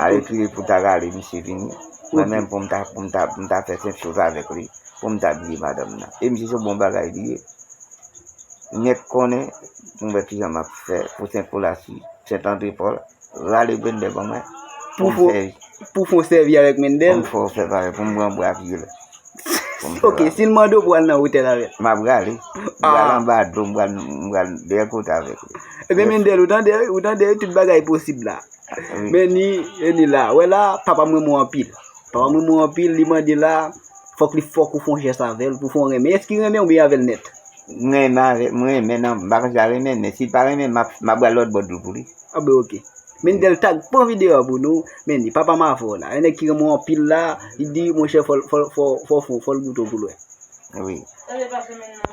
A retire pou ta rale misye vini mwen menm pou m ta pou m ta pou m ta fè kèk choz avèk li pou m ta bliye madanm nan e misye se bon bagay li ye nèk konnen pou m wè kijan m ap fè pou sen kolasi sen tandre pòl rale bendè ban mwen pou m fè pou fon sèvi avèk mendè pou m fon sèvi avèk pou m pran bwa pye l ok si l mande w pou al nan otèl avè l m ap rale m pral anba dlo m pral m pral dèyè kote avèk li ebyen mendè ou tande ou tande tout bagay posib la. Men ni e ni la Wè la papa m renmen w anpil Papa m renmen w anpil Li mande la Fòk li fòk ou fè yon jès avè l pou w fè yon renmen Èske li renmen w oubyen avè l nèt M renmen avè M renmen nan M pa konn si l ap renmen m Men si l pa renmen m m ap pral lòtbò dlo pou li A ben ok Men ni Delta k pran videyo a pou nou Men ni papa m avè w la Yon nèg ki renmen w anpil la Li di monchè fò l fò l fò w fè yon fò l goute w pou l wè Wi